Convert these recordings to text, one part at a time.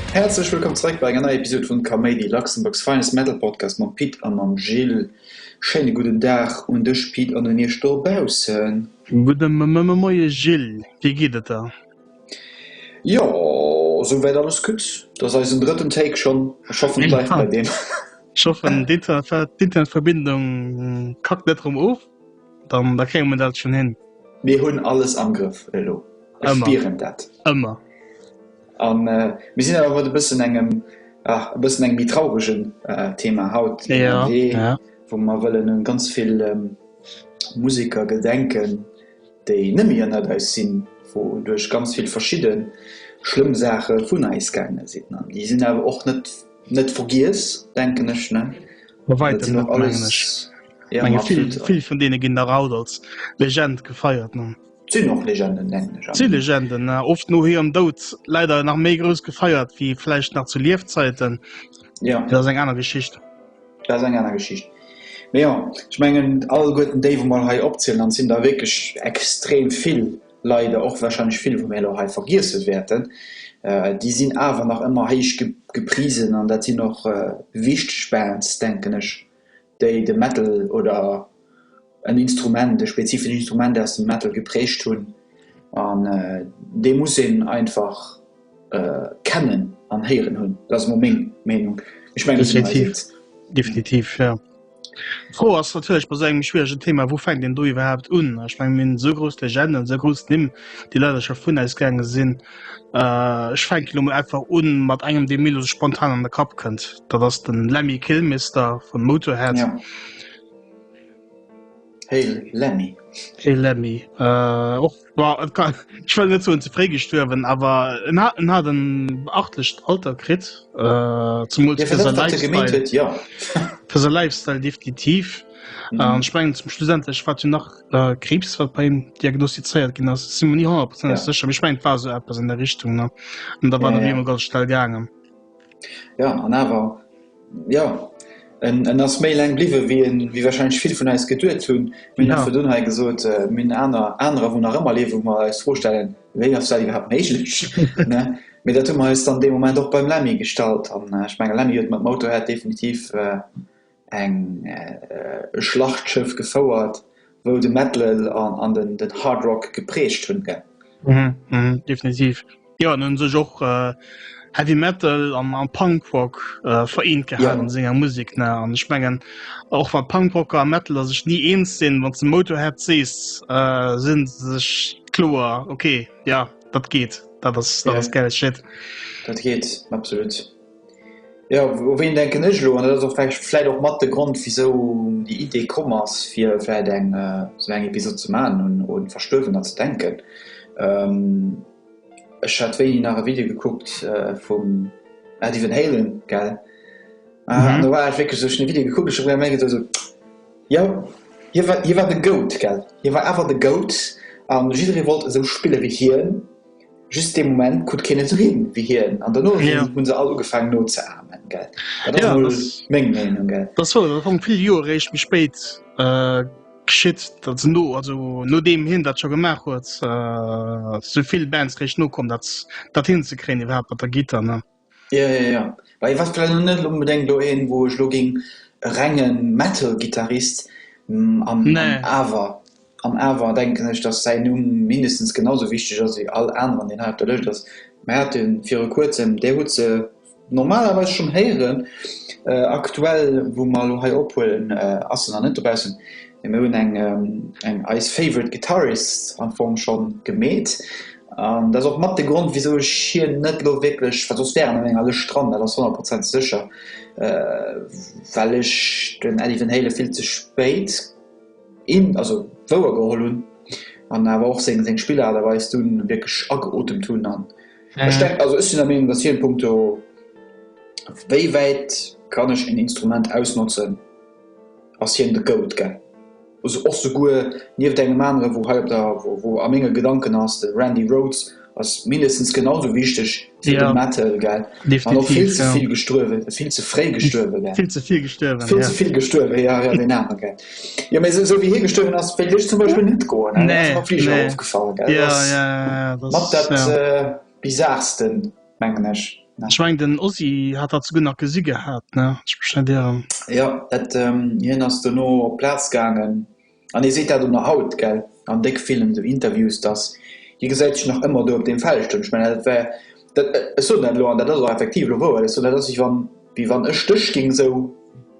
Häerzlech wëllkomm zeréck bei enger neier Episod vun Kaméidi, Luxembourg's finest metal podcast mam Pit a mam Gilles. Schéine gudden Dag un dech Pit an un iech dobaussen. Gudde Moie Gilles, wéi geet et der? Jo sou wäit alles gutt, et ass eisen drëtten Take schonn. Ech hoffen et bleift bei deem. Ech hoffen d'Internetverbindung kackt net rëm of, dann da kréie mer dat schonn hin. Mir hunn alles am Grëff elo, ech spieren dat. Ëmmer. A mir sinn awer mat e bëssen engem, ah e bëssen engem méi trauregen Thema haut ënnerwee, wou mer wëllen u ganz vill Museker gedenken. déi nëmme ënnert eis sinn, wouduerch ganz vill verschidde schlëmm Saache vun eis gaange sinn, an déi sinn awer och net net vergiess, denken ech, ne? Bei wäitem net, mengen ech. Jo, ma absolut. Vill vun deene ginn nach haut als Legend gefeiert, ne? Sinn och Legenden, denken ech. Si Legenden, ne? Oft no hirem Doud leider nach méi grouss gefeiert wéi vläicht nach zu Liefzäiten. Jo. Dat ass eng aner Geschicht. Dat ass eng aner Geschicht. Mee jo, ech mengen, alleguerten déi, wou mer elo hei opzielen, an et sinn der wierklech extrem vill, leider och wahrscheinlech vill, wou mir elo hei vergiesse wäerten, déi sinn awer nach ëmmer héich geprisen an dat sinn och wichteg Bands, denken ech, déi de Metal oder en Instrument, e spezifesch Instrument aus dem Metal geprägt hunn an dee muss een einfach kennen an héieren hunn. Dat ass emol meng Meenung. Ech mengen dass dat stimmt. Definitiv, jo. D'Fro ass natierlech bei esou engem schwieregen Thema, wou fänkt een do iwwerhaapt un? Ech mengen, mir hunn esou grouss Legenden, esou grouss Nimm, déi leider scho vun eis gaange sinn. Ech fänken elo mol einfach un mat engem, dee mir elo spontan an de Kapp kënnt, dat ass den Lemmy Kilmister vun Motorhead. Hey Lemmy. Hey Lemmy. Äh, och, boah, kann, ich will net so ze fré gestuerwen, awer en hat, en hat en beachtlecht Alter krit äh, zum ja, Lifestyle. Ja. Für se Lifestyle definitiv. Mhm. Äh, Spengen zum Schlussendlech wat hun nach äh, Krebs wat bei him diagnostizeiert ginn ass si nie 100 ja. secher. Ech mein war so Apps an der Richtung ne? an da war ja, ja. ganz schnell gangen. Jo, an awer, jo, en en ass méi laang bliwwen, wéi en, wéi wahrscheinlech vill vun eis geduet hunn. Mir hunn einfach dunn hei gesot, mir hunn aner, anerer, wou nach ëmmer liewen, wou mer eis d'Fro stellen, wéi ass dat iwwerhaapt méiglech, ne? Mee dat hu mer eis dann dee Moment och beim Lemmy gestallt an ech menge Lemmy huet mat Motorhead definitiv eng Schlachtschëff gefouert wou de Metal an den Hard Rock geprägt hunn gell? Uhmm definitiv jo an hunn sech och Heavy Metal an Punk Rock vereent gehat an senger Musek ne an ech mengen och wann Punk Rocker a Metaler sech ni eens sinn wann de Motorhead sees sinn se sech kloer ok jo dat geet dat ass geil shit dat geet absolut. Jo, u ween denken ech elo? An dat ass och vläicht, vläicht och mat de Grond wisou déi Idee komm ass fir vläicht eng sou eng Episod ze maachen un un Verstuerwener ze denken. Ech hat wéini nach e Video gekuckt vum Eddie Van Halen, gell? An do war ech wierklech sou, ech hunn de Video gekuckt, ech hu mer geduecht sou, jo, hie war, hie war de Goat, gell, hie war awer de Goat an jidderee wollt esou spille wéi hien. just dee Moment kuckt keen esou hin wéi hien an dono ja. hunn se all ugefaangen no ze amen. Gell Dat ass mol meng Meenung. Gell Dat war dat hong vill Joer réischt méi spéit äh, geschitt, dat se no also no deem hien dat scho gemaach huet, äh, souvill Bands réischt nokomm, dat dat hinzekréien iwwerhaapt mat der Gittar ne. Jo jo jo, bah hie war vläicht elo net onbedéngt elo een wou ech elo géing e renge Metal Gittarist an awer an awer denken ech datt säin Numm mindestens genau sou wichteg ass wéi all aneren deen hei op der Lëscht ass. Mir hate viru kuerzem, där huet se normalerweis schonn héieren, aktuell wou mer elo hei ophuelen ass se nach net dobaussen, mee mir hunn eng eng eis favorite guitarists am Fong schonn gemeet. An dat ass och mat de Grond, wisou ech hien net elo wierklech, well soss wär en op enger Lëscht dran, dat ass honnertprozentig sécher, well ech den Eddie Van Halen vill ze spéit in, also wouergeholl hunn an awer och seng, seng Spillart a Weis dunn wierklech ageotemt hunn. An ech denken, also ech sinn der Meenung, datt hien punkto wéi wäit kann ech en Instrument ausnotzen, ass hien de Goat gell. Also och souguer nieft engem aneren wou hei op der wou a menge Gedanken ass, de Randy Rhodes ass mindestens genau sou wichteg wéi de Matt Hell gell, an och vill ze vill gestuerwe, vill ze fréi gestuerwe gell, vill ze vill gestuerwe jo jo deen aner gell, jo mee sou wéi hie gestuerwen ass wéilt ech zum Beispill net goen dat ass mer am Fliger ofgefall gell, dat ass mat dat bizarrsten. mengen ech, ne? Ech mengen den Ozzy hat dat souguer nach gesi gehat, ne? Ech mech net ieren. Jo, et, hien ass dono op d'Plaz gaangen an hie seet dat och nach haut, gell, an déck villen esou Interviews, dass hie gesäit sech nach ëmmer do op deem Feld stoen. Ech mengen dat war, dat, ech soen dat elo an dat ass och effektiv elo wouer, ech soen dat ass wéi wann, wéi wann ech dech géing esou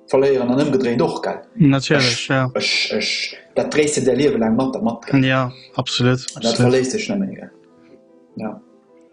verléieren an ëmgedréint och, gell. Natierlech, ja. Ech, ech, dat dréis de däi Liewe laang mat der mat, gell. Jo, absolut, absolut. An dat verléisst dech nëmmen, gell, jo.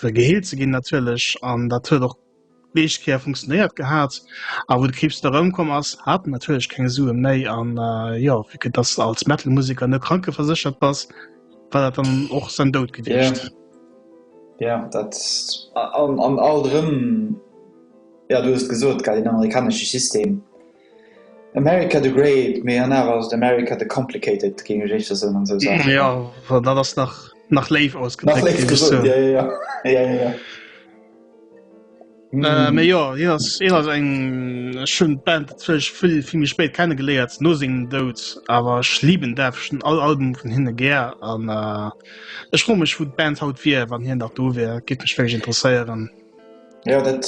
fir geheelt ze ginn natierlech an dat huet och d'meescht Kéier funktionéiert gehat. A wou de Kriibs da erëmkomm ass, hat en natierlech keng Sue méi an jo, vu que dass de als Metal-Museker net krankeverséchert bass, war dat dann och säin Doud gewiescht. Jo, dat an alt erëm, jo du hues et gesot, gell, deen amerikanesche System. America the Great, mee an awer ass et America the Complicated, géing ech éischter soen, an esou Saachen. Jo, dat ass nach, nach léif ausgedréckt, ginn ech zou. Nach léif gesot, jo, jo, jo, jo. Mee jo, hien ass, hien ass eng, ech hunn d'Band natierlech vill, vill méi spéit kenne geléiert, no sengem Doud, awer ech liben däerf, ech hunn all Album vun hinne gär an ech froe mech, wou d'Band haut wier, wann hien nach do wier, géif mech wierklech interesséieren. Jo, dat.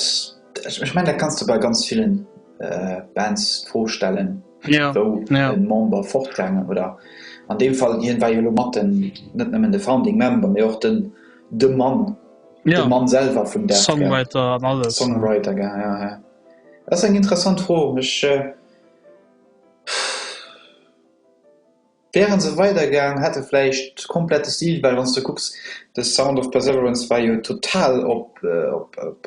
Ech mengen dat kanns de bei ganz villen Bands d'Fro stellen, wou en Member fortgaangen oder an deem Fall hien war jo elo mat den net nëmmen de Founding Member mee och den de Mann de Mann selwer vum Death Cab Songwriter an alles Songwriter gell jo jo dat ass eng interessant Fro ech. Wären se weider gaang hätt e vläicht komplett de Stil, well wann s de kucks The Sound of Perseverance war jo total op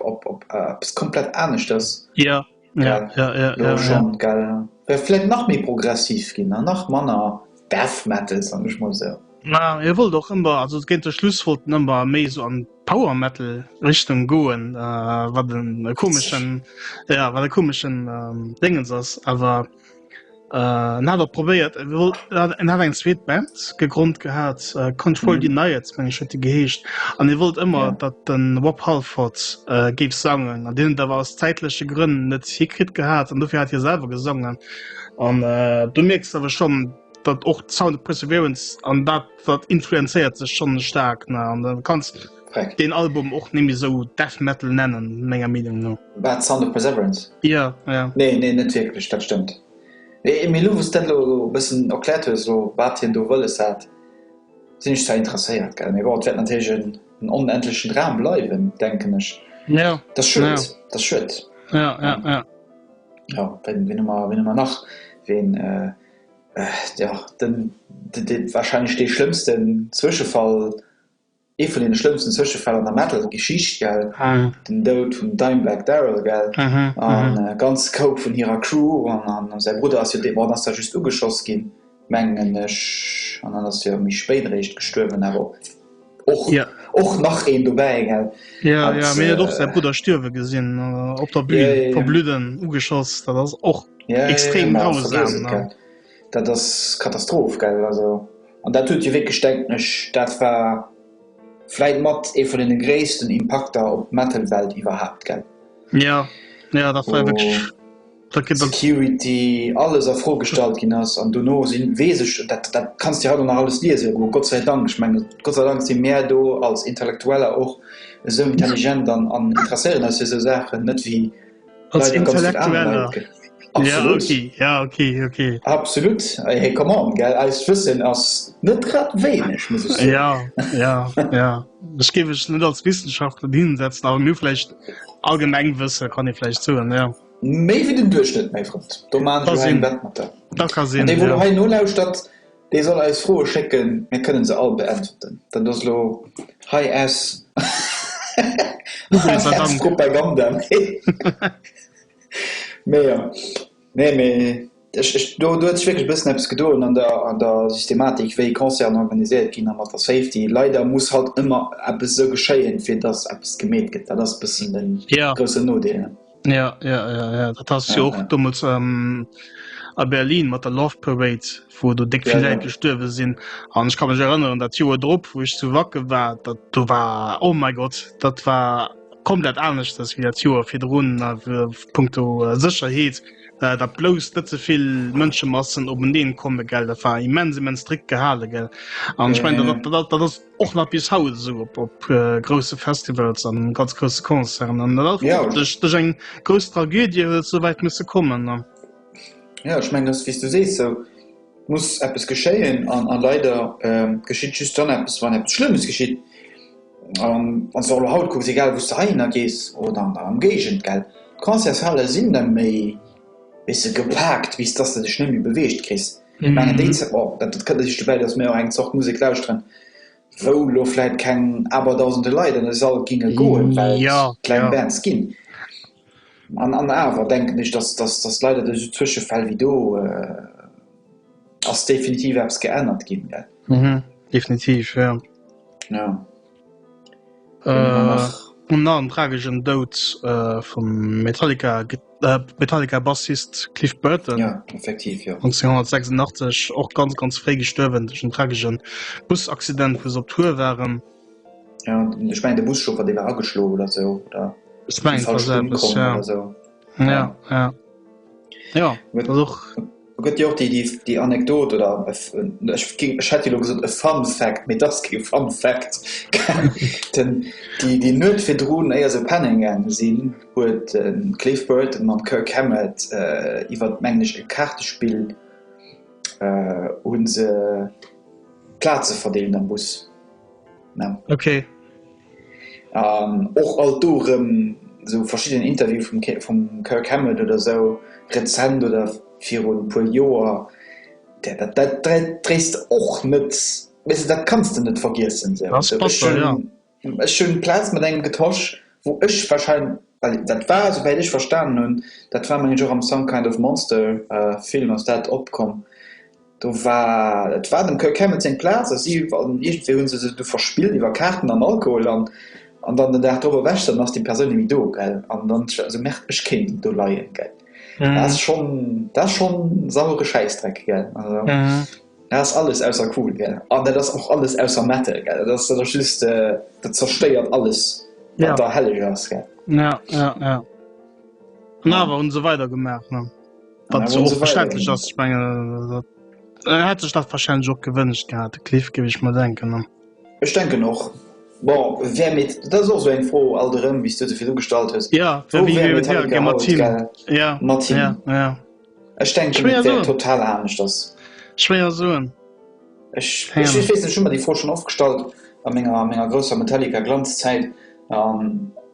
op op eppes komplett aneschters grad elo schonn gell, wär vläicht nach méi progressiv ginn an nach manner Death Metal soen ech mol esou. Hie wollt och ëmmer, also géint de Schluss wollt en ëmmer méi esou an d'Power Metal Richtung goen, wat e komeschen, ja wat e komeschen Déngens ass awer. Äh, na, dat probéiert. Äh, wol- äh, En hat eng zweet Band gegrond gehat, äh, Control Mhm. Denied, meng ech huet déi geheescht. An e wollt ëmmer, Ja. datt den Rob Halford äh, géif sangen. An deen da war aus zäitleche Grënn net hikritt gehat an dofir hat hie selwer gesongen. An äh, du mierks awer schon, datt och Sound of Perseverance an dat dat influenzéiert sech schon stark. Ne? An dann kannst Korrekt. den Album och nemme sou Death Metal nennen, menger Meenung no. Wat, Sound of Perseverance? Jo, jo. Nee, nee, net wierklech, dat stëmmt. Mee, mee elo wou s dat elo e bëssen erkläert hues, elo wat hien do wëlles hat, sinn ech zwar interesséiert, gell. Mee bon, et wäert natierlech en onendlechen Dram bleiwen, denken ech. Jo. Dat ass schued, dat ass schued. Jo, jo, jo. Jo, ween, ween hu mer, ween hu mer nach? Ween, jo, den, de, de, warscheinlech dee schlëmmsten Zwëschefall. Ee vun deene schlëmmsten Zwëschefäll an der Metal-Geschicht, gell? Den Doud vum Dimebag Darrell, gell? A ganz Scope vun hirer Crew. An säi Brudder ass jo dee, bon, den ass da just ugeschoss ginn, mengen ech. An dann ass jo méi spéit eréischt gestuerwen, awer och, och nach een dobäi, gell? Jo, jo, mee huet och säi Brudder stierwe gesinn op der Bühn, verbludden, ugeschoss. Dat ass och extrem grausam. Dat ass Katastroph, gell? Also, an dat huet jo wierklech, denken ech, dat war vläit mat ee vun deene gréissten Impakter op d'Metal-Welt iwwerhaapt, gell? Jo, jo, dat war jo wierklech. Wou d'Security alles a Fro gestallt ginn ass an dono sinn, weess ech, dat, dat kanns de jo haut och nach alles liese goen, Gott sei Dank, ech mengen, Gott sei Dank si mär do als Intellektueller och esou intelligent an interesséieren eis fir esou Saachen, net wéi Als Intellektueller. Absolut Wëssen ass net grad wéineg muss. Ja ja ja Ech géif ech net als Wissenschaftler hinsetzen a mirflecht allgemeng wësse kann ee vläicht soen. Ja méi wéi den Duerchschnëtt méi frot. Do man. Da ka sinn. Dee wou hei nolauschtert. Dee soll eis Froe schécken, mir kënnen se all beäntwerten. Dat ass elo high S, high S Propaganda. Mee jo, nee, mee ech, ech, do, do huet sech wierklech e bëssen eppes gedoen an der, an der Systematik, wéi Concerten organiséiert ginn a mat der Safety. Leider muss halt ëmmer eppes esou geschéien, fir datt eppes gemeet gëtt. Dat ass e bëssen de groussen Nodeel. Ja, ja, ja, ja. dat ass jo och dommels ähm, a Berlin mat der Love Parade, wo do déck vill Läit gestuerwe sinn. An ech kann mech erënneren, dat Joer drop, wou ech zu Wacke war, dat do war oh mei Gott, dat war komplett anescht ass wéi dat Joer virdrun a punkto äh, Sécherheet. Äh, dat blouss net zevill Mënschemassen op en Deen komme gell, dat war immens immens strikt gehale gell. An ech mein dat ass och nach bis haut so op op grosse Festivals an ganz grosse Konzern an ja. duch, duch eng gros Tragödie huet soweit musssse kommen ne? Ja ich meng das wie du sees so muss Apps geschéien an an leider ähm, geschitt just dann Apps wann Apps schlimmes geschitt an ähm, soll haut kucks egal wo du heiner gees oder an am Gegent geld Konzershalle sinn der méi wisse gepackt wies dass du dech nemmi beweescht krist Mir mengen déi Zäit, bon, dat dat kënnt e sech dobäi, datt mir och eng Zort Musek lauschteren, wou elo vläit keng Aberdausende Leit an e Sall ginge goen, well et kleng Bands ginn. An an awer denken ech, datt datt datt leider duerch esou Zwëschefäll wéi do ass definitiv eppes geännert ginn, gell. Definitiv, jo. Jo. Un an tragegen Doud vum Metallica Metallica Bassist Cliff Burton 1986 och ganz ganz fré gestuerwen duch en tragegen Busaccident wou se op Tour waren. Ja, ich mein, der Bus schon war ageschlo oder so oder ich mein, so. ja, ja. ja. ja. Do gëtt jo och déi, déi Anekdot oder ech géing, ech hätt elo gesot e Fun Fact, mee et ass kee Fun Fact, den, déi, déi Nuecht virdrun, éier se pennen gaange sinn, huet de Cliff Burton mam Kirk Hammett iwwert, mengen ech, e Kaartespill hu se Plaze verdeelt am Bus, ne? An och alt do erëm esou verschidden Interview vum vum Kirk Hammett oder esou rezent oder virun e puer Joer, dat dat dréis de och net, weess de, dat kanns de net vergiessen esou. Ass batter, jo. Ech hunn d'Plaz mat engem getosch, wou ech warscheinlech, well dat war, esou wäit ech verstanen hunn, dat war mengen ech och am Some Kind of Monster Film ass dat opkomm, Do war, et war dem Kirk Hammett seng Plaz a si, an iergendwéi hu se se du verspillt iwwer Kaarten an Alkohol an, an dann den Dag drop ewech dann ass déi Persoun ni méi do, gell. An dann ech esou, merde, ech kéint ni do leien, gell. Dat ass schonn, dat ass schonn sauere Schäissdreck, gell. Also dat ass alles ausser cool, gell. An dat ass och alles ausser Metal, gell. Dat ass dann och just, dat zerstéiert alles, wat da helleg ass, gell. Ja, ja, ja. An awer hu se weider gemaach, ne. Wat so verständlech ass ich mein, äh, hat sech dat verschschein Job gewënnecht gehabt. De Cliff gebe ich mal denken. Ne? Ech denke noch bon, wer mit dat so eng Fro all derëm bis du defir du gestalt hues. Ja Ech denk total anecht ass. Schwéier soen. Ech weess net, ech hu mer déi Fro schonn oft gestallt a menger grousser Metallica-Glanzzäit.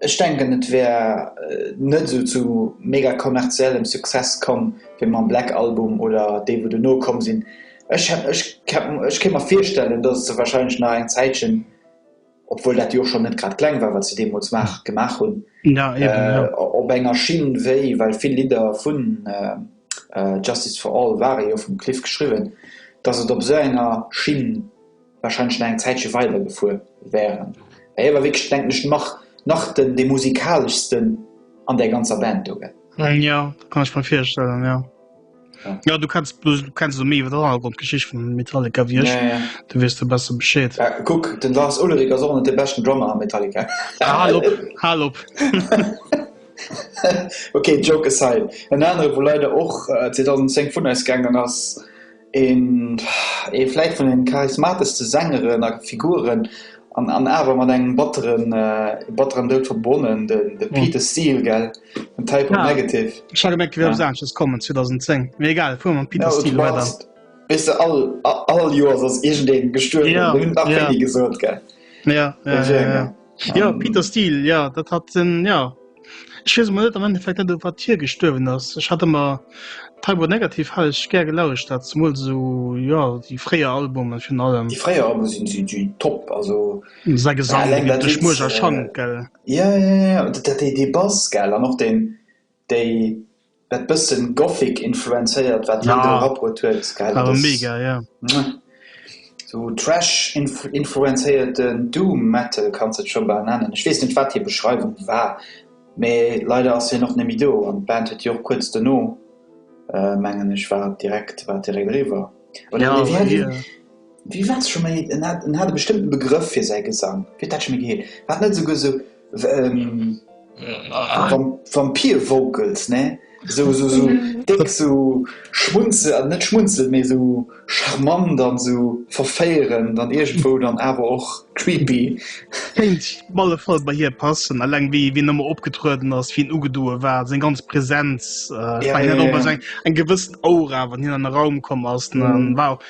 Ech denken, et wär net esou zu mega kommerziellem Success komm wéi mam Black Album oder déi, wou dono komm sinn. Ech hätt, ech, ech kéint mer virstellen, dass et se warscheinlech nach eng Zäitchen obwuel dat jo och schonn net grad kleng war, wat se deemools maach, gemaach hunn, op enger Schinn wéi, well vill Lidder vu Justice for All ware jo vum Cliff geschriwwen, datt et op esou enger Schinn warscheinlech nach eng Zäitche weider gefuer wären. Mä hie war wierklech, denken ech, nach, nach den, dee musikaleschsten an där ganzer Band do, gell? Jo, dat kann ech mer virstellen, jo. Ja du kannst du kannst méi iwwer der Hannergrondgeschicht vum Metallica wie ech. Ja, ja. Du wees du besser Bescheed. Ja, kuck, den Lars Ulrich ass och net de beschten Drummer a Metallica. Ah, hal op, hal op. Okay, Joke aside. En anere wou leider och 2010 vun eis gaangen ass, een ee vläit vun den charismateschste Sängeren a Figuren An awer mat engem batteren, batteren Doud verbonne, de Peter Steele, gell? Den Type O Negative. Ech hat gemengt, et wier eppes aneschters komm, 2010. Mee egal, fuere mer mam Peter Steele weider. Weess de, all, all Joers ass iergendeen gestuerwen. Mir hunn nach wéini gesot, gell? Jo, jo, jo. Jo, Peter Steele, jo, dat hat en, jo. Ech weess emol net am Endeffekt net, wat hie gestuerwen ass. Ech hatte mer Taibo negativ ha ech gär gelauscht, dat zumol so jo déi fréier Albumen vun allem. Déi fréier Albumen sinn si si top also. Säi Gesang dee geet duerch Muerch a Schank gell. Ja ja ja dat dee dee Bass gell an och deen déi. Dat bëssen Gothic influenzéiert wat hien do erabrut huet gell, dat ass mouah sou Trash influenzéierten Doom Metal kanns de et scho bal nennen. Ech weess net wat hir Beschreiwung war, mee leider ass hien och net méi do an d'Band huet jo och kuerz dono mengen ech war direkt war direkt eriwwer. Oder nee wéi hat hien wéi war et scho méi en hat en hat e bestëmmten Begrëff fir säi Gesang, wéi huet dat scho méi geheet, war et net esouguer sou. Vampire vocals ne so so so déck so schmunzel an net schmunzel méi so charmant an so verféieren dann irgendwo dann awer och creepy kéint op alle fall bei hir passen alleng wéi wien ëmmer opgetrueden ass wien ugedoe war seng ganz Präsenz eng gewëssen Aura wann hien an de Raum komm ass war.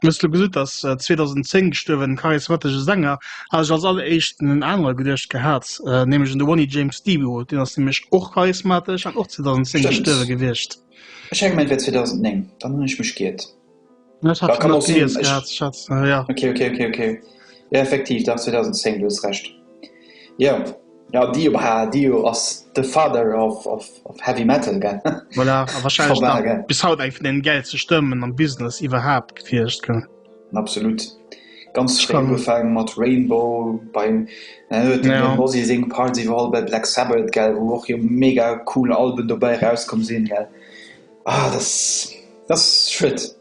Du hues elo gesot, datt 2010 gestuerwen, den charismatesche Sänger, hat ech als alleréischt un en anere geduecht gehat, nämlech un de Ronnie James Dio, deen ass nämlech och charismatesch an och 2010 gestuerwe gewiescht. Ech hänken et wär 2009, dann hunn ech mech ge'iert. Ech hat et nach gelies gehat. Ech hat, jo. Ok, ok, ok, ok, jo effektiv, dach 2010, du hues Recht. Jo, jo Dio, bah Dio ass de Father of Heavy Metal gell. Voilà, a wahrscheinlech nach bis haut eng vun den gäilste Stëmmen am Business iwwerhaapt gewierscht gell. Absolut, ganz fréi ugefaang mat Rainbow bei dem Ozzy seng Parts, iwwerall bei Black Sabbath gell, wou och jo mega cool Alben dobäi eraus komm sinn gell. Ah, dat ass schued.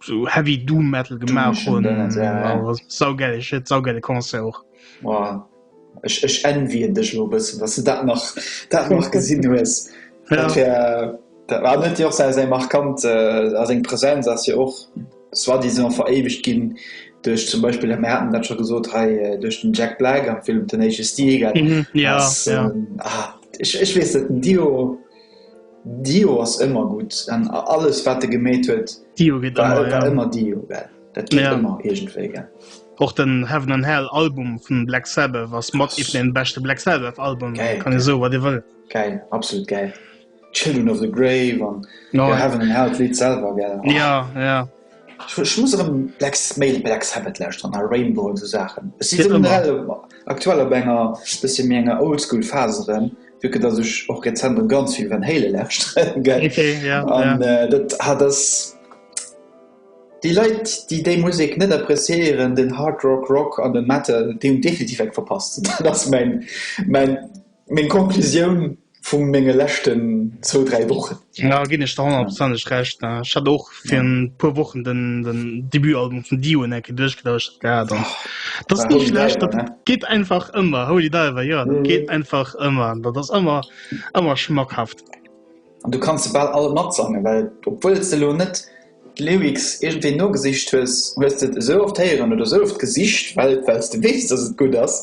so heavy doom metal gemacht hun saugellet saugellle konzer och ech ech en wie en dech lo bëssen dat se dat nach dat nach gesinn hues dat war net jo se se markant äh, as eng präsenz as je och es war die son veréiwegt ginn duerch zum beispiel der merten dat scho gesot hei äh, duerch den jack black am film den age stil mhm, ja, ja. Ähm, ah, ich, ich wees den dio Dio ass ëmmer gutt an alles wat e gemeet huet Dio geet war ëmmer, war ja. ëmmer Dio, gell? Dat geet Ja. ëmmer iergendwéi, gell? Och den Heaven and Hell Album vun Black Sabbath ass mat eent vun den beschte Black Sabbath Albumen. Geil, Kann ee geil. soe wat ee wëll. Gäil, absolut gäil. Children of the Grave an Oh, ja. Heaven and Hell d'Lidd selwer, gell? Ja, ja. Ech muss erëm Black Male Black Sabbath lauschteren a Rainbow an esou Saachen. Ech si generell aktuell op enger bësse méi enger Oldschool Phase erëm, vu que datt ech och rezent erëm ganz vill Van Halen lauschteren, gell? An dat hat ass, déi Leit, déi déi Musek net appreciéieren, den Hard Rock, Rock an den Metal, déi hunn definitiv eng verpasst. Dat ass mäin, mäin, meng Conclusioun. vun menge leschten zwou, dräi Wochen. Da ginn ech der honnertprozenteg Recht. Ech hat och fir e puer Wochen den Debutalbum vun Dio en Ecke duerchgelauschtert gehat. An dat ass ni schlecht. Dat geet einfach ëmmer. Holy Diver, jo, dat geet einfach ëmmer. Dat ass ëmmer, ëmmer schmackhaft. An du kanns se bal all matsangen, well obwuel s de elo net d'Lyrics iergendwéi nogesicht hues, hues de et esou oft héieren oder esou oft gesicht, well s de weess, dass et gutt ass.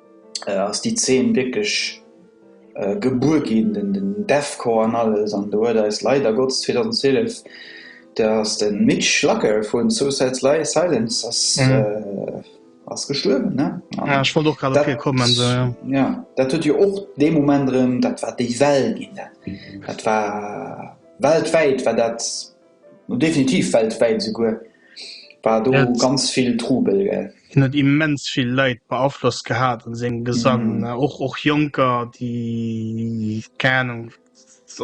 äh, ass déi Zeen wierklech äh, gebuer ginn, den, den Deathcore an alles, an do huet eis leider Gottes 2012 der ass de Mitch Schlacker vun Suicide Sly Silence ass, mhm. äh, ass gestuerwen. Ne? An ja, ich wollt och grad dofir kommen. So, ja. ja, dat huet jo ja och de Moment rem, dat war déi Well ginn. Dat, mhm. dat war weltwäit war dat Definitiv weltwäit esouguer war do ganz vill Trubel, gell. Hien huet immens vill Leit beaflosst gehat an sengem Gesang, och och Jonker, déi keng Ahnung,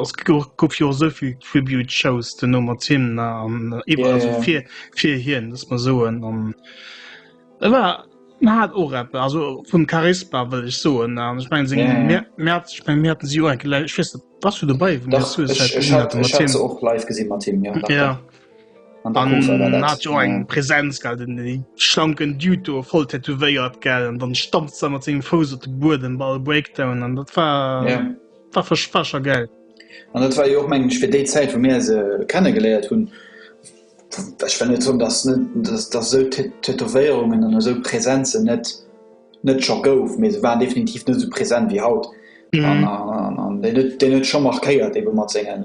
ass gouf jo och esou vill Tribute Shows duerno mat him an iwwer also fir fir hien, dass mer soen an e war en hat och eppes also vun Charisma wëll ech soen an ech mengen seng Mä Mäerz ech meng mir haten si jo eng Kéier, ech weess net, Was du dabei och live gesinn mat him ja, ja. hat jo eng Präsenz ge den déi schlanken Duto voll tätowéiert gell an dann stammt ze mat seg Fous op de Buer den Ball Breakdown an dat war ja. war verspacher gell. An dat war jo och mengg fir déi Zäit vu mir se kennen geléiert hunn net dat se Tätowéierungen an eso Präsenzen net. net scho gouf, mee se war definitiv net esou present wéi haut an deen huet scho markéiert ebe mat senge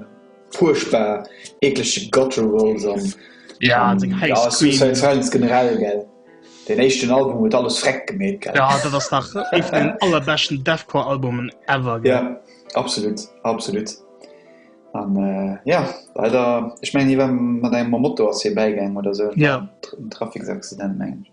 fuerchtbar eekleche Gutturals an ja, Suicide Silence generell gell. Deen éischten Album huet alles vreck gemeet gell. Ja, dat ass nach ee vun den allerbeschten Deathcore Albumen ever gell. Ja, absolut, absolut an ja leider, ech mengen hie war mat engem Moto ass hie bäigaang oder esou, ja, Traficsaccident mengen ech.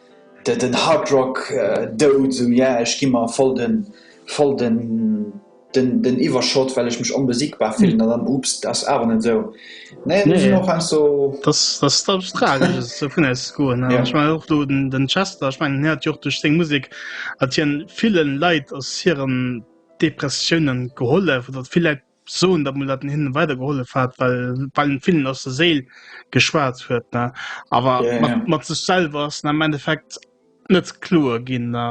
Den Hard Rock dout, sou yeah, ech gi mer voll den voll den den Iwwerschott well ech mech onbesiegbar fillen, an dann oops, dat ass awer net sou, nee do sinn och heiansdo so. Dass dass dat eppes tragesches dovun aus goen, an ech mengen och do den den Chester, ech mengen hien hat jo och duerch seng Musek hat hien villen Leit aus hiren Depressiounen gehollef, oder vill Läit. Soen, datt mol dat en hinnen weider gehollef hat, well well en villen aus der Séil geschwat huet, ne? Awer mat mat sech selwer ass en am Endeffekt net kloer ginn, ne?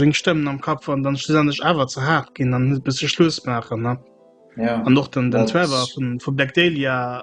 Seng Stëmmen am Kapp waren dann schlussendlech awer ze haart ginn an en huet musse Schluss maachen, ne? An och den den Trevor vun vu Black Dahlia,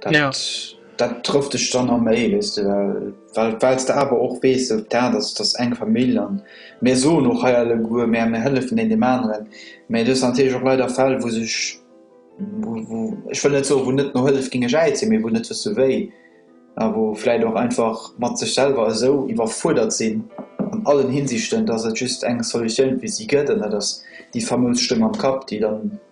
Dat, ja. dat trëfft dech dann am méi, wees du, well wells de awer och wees, so dat ass dass eng Famill an mir soen och hei alleguer, mä mir hëllefen een deem aneren, mä do si natierlech och leider Fäll, wou sech, wou, wou, ech wëll net soen, wou net no Hëllef géinge geäit sinn, mee wou net wësse wéi a wou vläit och einfach mat sech selwer esou iwwerfuerdert sinn an allen Hinsichten, dass et just eng Solutioun fir si gëtt an dat ass déi fameus Stëmm am Kapp, déi dann.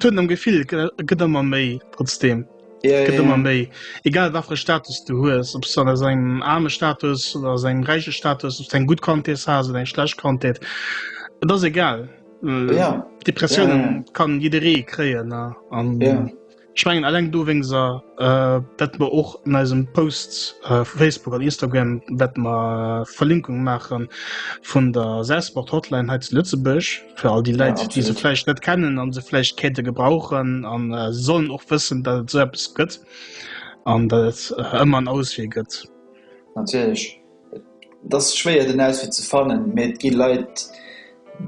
Tun am Gefill gëtt ëmmer méi trotzdem ëmmer méi egal wafir Status du hues op so engem arme Status oder se engem räiche Status op eng gut Kantes ha eng schlecht Kantet Et ass egal Depressioun kann jideree kréien an. Ech mengen alleng dowéngser, dat mer och an eisem Post vu Facebook an Instagram wäerte mer Verlinkung maache vun der Sasport Hotline hei zu Lëtzebuerg, fir all déi Läit, déi se vläicht net kennen an se vläicht kéinte gebrauchen an se sollen och wëssen, datt et esou eppes gëtt an datt et ëmmer en Auswee gëtt. Natierlech, Et ass schwéier den Auswee ze fannen, mee et gi Leit,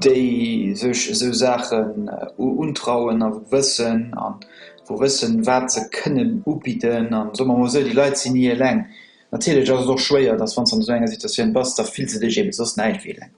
déi sech esou Saachen untrauen a wëssen a wou wëssen, wat se kënnen ubidden. An soe mer emol esou, déi Leit sinn ni eleng. Natierlech ass et och schwéier, dass wann s de an esou enger Situatioun bass, da fills de dech eebe soss näischt wéi eleng.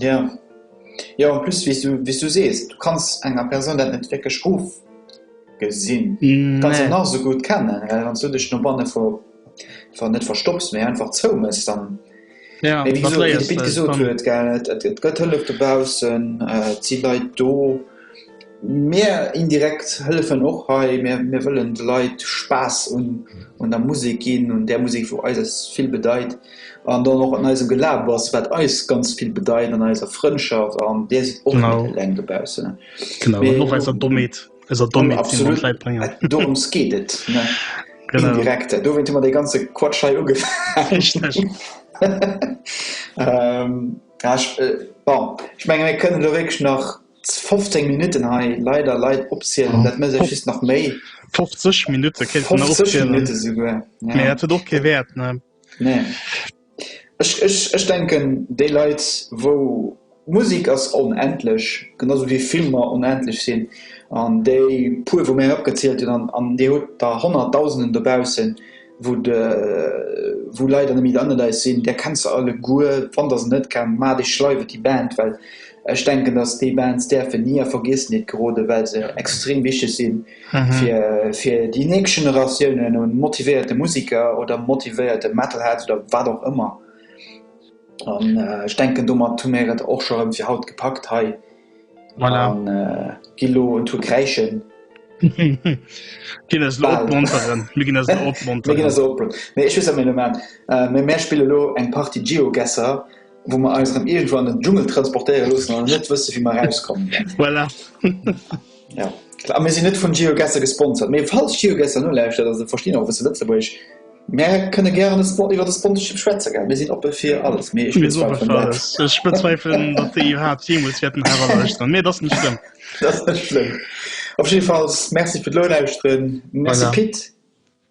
Ja. Jo en plus wéi's du wéi's du sees, du kanns enger Persoun dat net wierklech ofgesinn. Du kanns se nach esou gutt kennen, well wann s du dech no banne vu ver net verstopps, mee einfach zou méchs dann, mee wéi gesot wéi de Pit gesot huet gell, et et gëtt Hëllef dobaussen, et si Leit do. Mir indirekt hëllefen och hei. Mir wëllen de Leit Spaass un der Musek ginn, un där Musek, wou eis vill bedeit, an dann och un eisem Gelaber, wat eis ganz vill bedeit, an eiser Frëndschaft. An Dir sidd och net eleng dobaussen. Genau, an och eiser Dommheet, eiser Dommheet, déi mer un d'Leit bréngen. Absolut, dorëms geet et, ne? Genau. Indirekt, dowéint hu mer dee ganze Quatsch hei ugefaangen. Richteg. Bon, ech menge mir kënnen elo wierklech nach. 15 Minutten hei leider Leit opzielen, dat mécht eech just nach méi. 50 Minutte kéint en nach opzielen, mee dat huet och kee Wäert, ne? Nee. Ech, ech, ech denken, déi Leit, wou, Musek ass onendlech, genau sou wéi Filmer onendlech sinn, an déi puer, wou mir hei opgezielt hunn, an, an Dir hutt der Honnertdausenden dobaussen, wou de wou Leit an de Midanelais sinn, där kenns de alleguer, wann der se net kennt, maacht iech schleiw et déi Band, well ech denken, datt déi Bands däerfen ni a Vergiessenheet geroden, well se extrem wichteg si fir fir déi nächst Generatiounen un motivéierte Musiker oder motivéierte Metalheads oder wat och ëmmer. An ech denken, domat hu mir et och scho erëm fir haut gepackt hei. Voilà. An äh, gi lo un to kräischen. Ginn ass lo opmonteren. Mir ginn ass lo opmonteren. Mir ginn ass lo opmonteren. Mee ech wëss am Element. Äh, mee mär spille lo eng Partie Geogesser, wou mer eis erëm irgendwo an den Dschungel transportéiere loossen an net wësse wéi mer rauskommen. voilà. Ja, klar, mir sinn net vun GeoGuessr gesponsert, mee falls GeoGuessr nolauschtert, a se verstinn och e bësse Lëtzebuergesch, mär kënne gären iwwer de Sponsorship schwätze, gell? Mir sinn oppe fir alles, mee ech bezweifelen dat. Ech bezweifelen, datt déi iwwerhaapt jeemools wäerten eraluechteren, mee dat ass net schlëmm. Dat ass net schlëmm. Op jiddefalls, Merci fir d'Nolauschteren. Merci Pit.